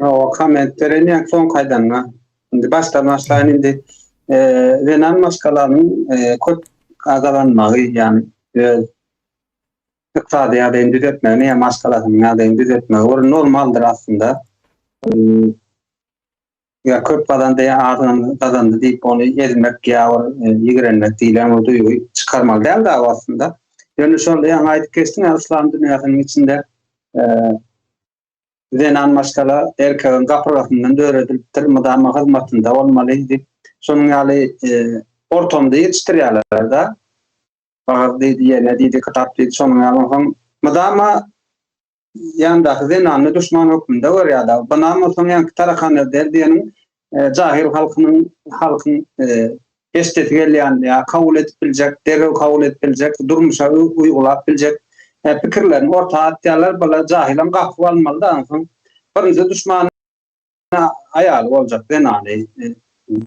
Ýok, komment berenýän soň kaýdanma. Indi başdan başlaýyn indi. Zenan maşgalasynyň köp gazalanmagy, ýagny öz ykdysady ýagdaýyny düzetmegini ýa maşgalasynyň ýagdaýyny düzetmegi bir normaldyr aslynda. Ýa köp gazandy, ýa az gazandy diýip ony ezmek ýa ýigrenmek diýlen o duýgy çykarmaly däl dagy aslynda. Ýöne şonda ýaňy aýdyp geçdiň, yslam dünýäsiniň içinde Zenan maşgala erkegiň gapyrgasyndan döredilipdir, mydama hyzmatynda bolmaly diýip, şonuň ýaly e, ortamda ýetişdirýärler-de. Bagyz diýdi, ýene diýdi, kitap diýdi, şonuň ýaly onsoň mydama ýandaky zenany duşman hökmünde görýär-de. Bynam bolsaň ýaňky tarakan öder diýeniň Jahyl halkynyň halkyň heşdesi gelýän ýa kabul edip biljek, derrew kabul edip biljek, durmuşa uýgulap biljek pikirlerini orta atýarlar. Bala jahylam gapup almalyda aňsoň birinji duşmany aýaly boljak zenany.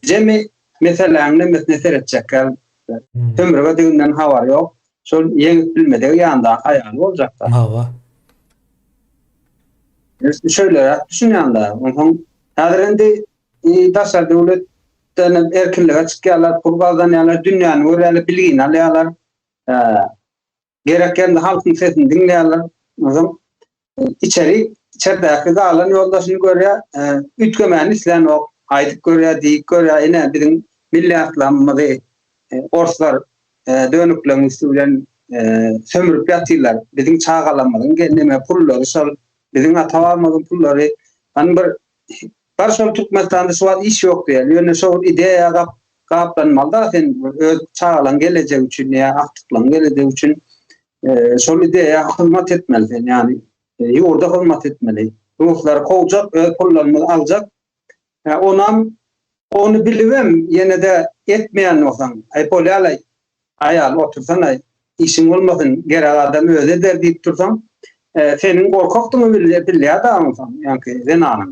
Jemi meseläň nemesine seretjekkäl bolupdyr. Sömürgediginden habary ýok. Şol ýeňip bilmedigi ýanyndaky aýaly boljak-da. Hawa. Biz şeýleräk düşünýän dagy. Onsoň häzir indi daşary döwletden erkinlige çykýarlar, pul gazanýarlar, dünýäni görýärler, bilgini alýarlar. Gerek ýerde halkyň sesini diňleýärler. Özem içeri, içerdäki galan ýoldaşyny görýär, e, üýtgemäni isleýänok. Aýdyp görýär, diýip görýär, ine biziň milli atlamymyzy e, orslar e, dönükleň üsti bilen sömürüp ýatyrlar. Biziň çagalarymyzyň gelneme pullary şol, biziň ata-babamyzyň pullary. Hany bir Bar şol Türkmenistanda şu wagt iş ýok diýeli ýöne şol ideýa gap gaplanmaly da sen öz çagalaň gelejegi üçin ýa agtyklaň gelejegi üçin şol ideýa hyzmat etmeli sen ýani ýurda hyzmat etmeli ruslary kowjak öz pullarymyzy aljak onam ony bilibem ýenede etmeýän bolsaň aý bolýalaý aýal otursanaý işiň bolmasyn gerek adam özi eder diýip dursaň seniň gorkakdygyňy bilýär dagym sen ýanki zenanyň.